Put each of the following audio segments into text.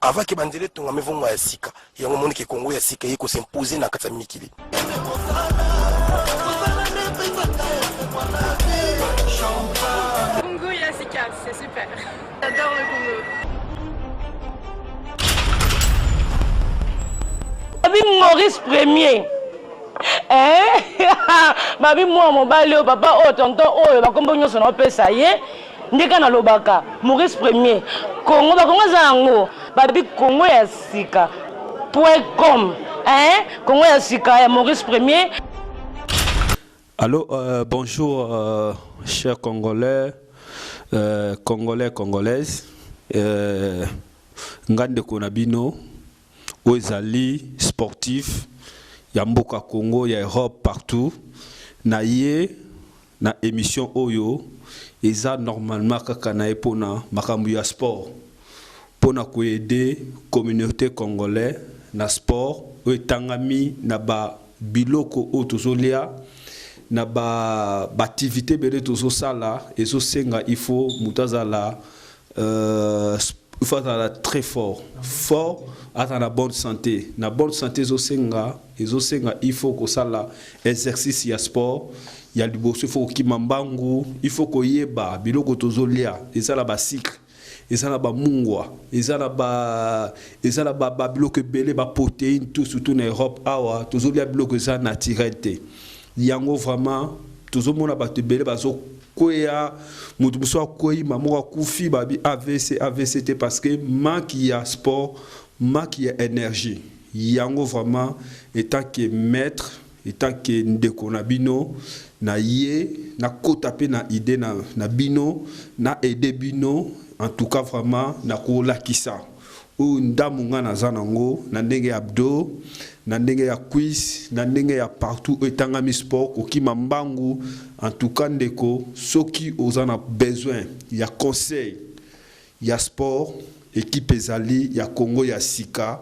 avant que banzela etongama evongo ya sika yango omoni ke kongo ya sika eye kosimpose na kati ya mikili Congo ya sika c'est super j'adore le Congo babi maurice premier eh? babi mwana mobali oyo papa oyo tonton oyo bakombo nyonso naopesa ye Ndeka na lobaka Maurice premier Congo ba Congo eza yango ba bi Congo ya sika point com hein Congo ya sika ya Maurice premier. Allô euh, bonjour euh, cher congolais euh, congolais congolaise euh, nga ndeko na bino oyo ezali sportif ya mboka Congo ya Europe partout na ye na emission oyo eza normalement kaka naye pona makambu ya sport pona ko aide communaute congolais na sport oyo etangami na ba biloko oyo tozo lia na ba activite ebele tozo sala ezo senga il faut mutu azala Euh, il faut azala très fort fort azala na bonne santé na bonne santé ezosenga ezosenga il faut kosala exercice ya sport ya liboso il faut kokima mbangu il faut koyeba biloko tozolia eza na basikre eza na bamungwa eza na ba eza na babiloko ebele baproteine tout surtout na europe awa tozolia biloko eza naturel te yango vraiment tozomona bato ebele bazo kweya moto mosusu akwei ma moko akufi babi avc avc te parce que maki ya sport maki ya energie yango vraiment etant que maître etant que ndeko na bino na ye nakota mpe na idee na, na bino na aide bino en tout cas vraiment nakolakisa Oyo ndamu nga naza na ngo na ndenge ya abdo, na ndenge ya cuisse, na ndenge ya partout oyo etangami sport kokima mbangu en tout cas ndeko soki oza na besoin ya conseil ya sport equipe ezali ya Congo ya sika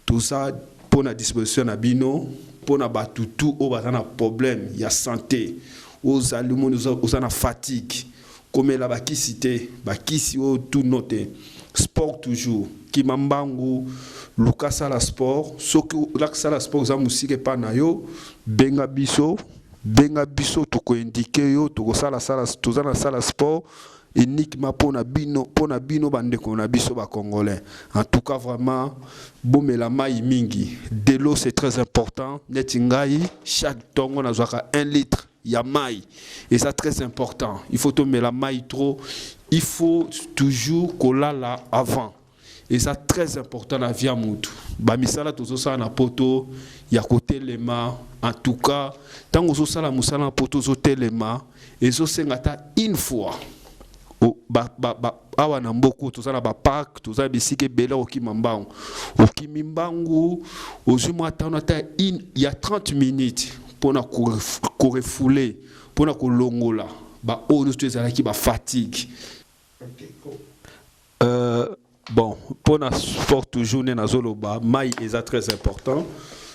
toza pona disposition na bino pona batu tout oyo baza na problème ya sante oza limoni oza na fatigue Komela ba kisi te, ba kisi oyo tout no te. Sport toujours, kima mbangu, luka sala sport, soki olaki sala sport oza musika epa na yo, benga biso, benga biso toko indiquer yo, toko sala sala, toza na sala sport uniquement pona bino, pona bino ba ndeko na biso ba congolais. En tout cas vraiment bomela mayi mingi, de l'eau c'est très important, neti ngai chaque tongo nazuaka un litre, ya mayi eza très important il faut tomela mayi trop il faut toujours kolala avant eza très important na vie ya mutu bamisala tozosala na poto ya kotelema en tout cas ntango ozosala mosala na poto ozotelema ezosenga ata une fois ba, ba, ba, awa na mboko toza na baparke toza na bisika ebele okima mbangu okimi mbangu ozwi mwa ntano ata ya 30 minutes mpo na korefoule mpo na kolongola baoyo nyonso to ezalaki bafatigue euh, bon mpo na sport toujours nde nazoloba mai eza très important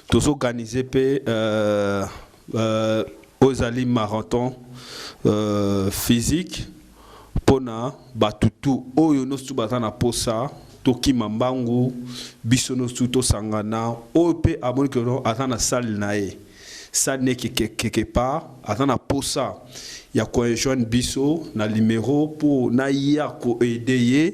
tozoorganize mpe euh, Euh, oyo ezali marathon euh, physique mpo na bato tu oyo nosutu baza na posa tokima mbangu biso nosutu tosangana oyo mpe amoni keno aza na sale na ye sale ne quelque part aza na posa ya koenjoine biso na limero mpo naya koede ye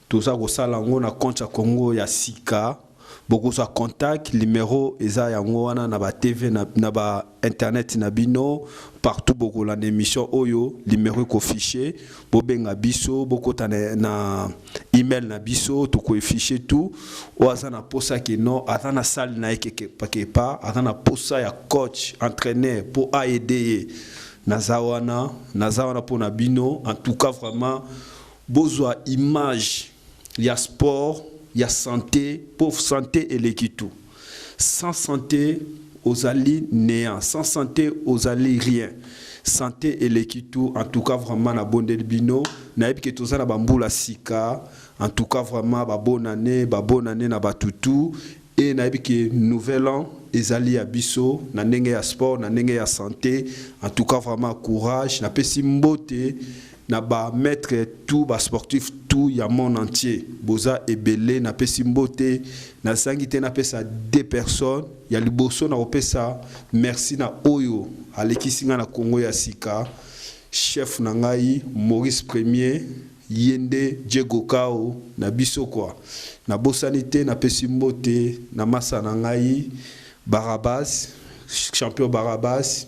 Toza kosala yango na compte ya Congo ya sika bokozwa contact numero eza yango wana na ba TV na ba internet na bino partout bokolanda emission oyo numero eko fiche bobenga biso bokota na email na biso toko efiche tout oyo aza na posa ke non aza na salle na ye kekepakepa aza na posa ya coach entraîneur mpo aede ye naza wana naza wana mpo na bino en tout cas vraiment Bozua image ya sport ya sante po sante eleki tout sans sante ozali neant sans sante ozali rien sante eleki tout en tout cas vraiment na bondeli bino nayebi ke toza na ba mbula sika en tout cas vraiment ba bonne annee ba bonne annee na batu tout et nayebi ke nouvel an ezali ya biso na ndenge ya sport na ndenge ya sante en tout cas vraiment courage napesi mbote na ba maitre tout ba sportif tout ya monde entier boza ebele na pesi mbote na zangi te na pesa de personne ya liboso na kopesa merci na oyo alekisi nga na Congo ya sika chef na ngai Maurice premier yende Diego Kao na biso kwa na bosani te na pesi mbote na masa na ngai Barabas champion Barabas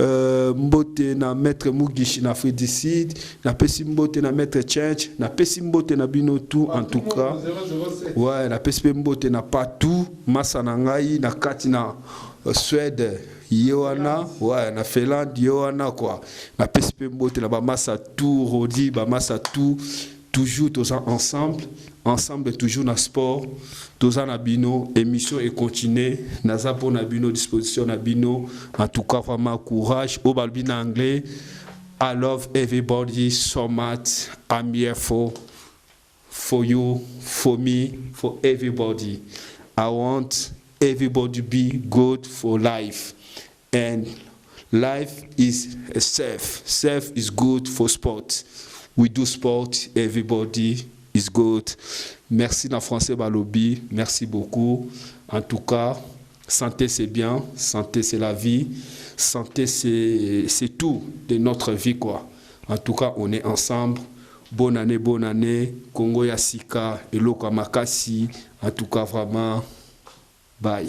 Euh, mbote na maître Mugishi na Fredicide, na pesi mbote na maître Church, na pesi mbote na bino tout en tout cas. Ouais, na pesi pe mbote na Patou, masa na ngai na kati na euh, Suède ye wana ouais, na Finlande ye wana quoi. Na pesi pe mbote na ba masa tout Rodi, ba masa tout Toujours toza ensemble, ensemble toujours na sport, toza na bino, emission e continuer, naza po na bino, disposition na bino, en tout cas vraiment courage, oyo balobi na anglais, I love everybody so much, I'm here for, for you, for me, for everybody, I want everybody be good for life. And life is safe safe is good for sport we do sport everybody is good merci na français balobi merci beaucoup en tout cas santé c'est bien santé c'est la vie santé c'est c'est tout de notre vie quoi en tout cas on est ensemble bonne année bonne année Congo ya sika eloko makasi en tout cas vraiment bye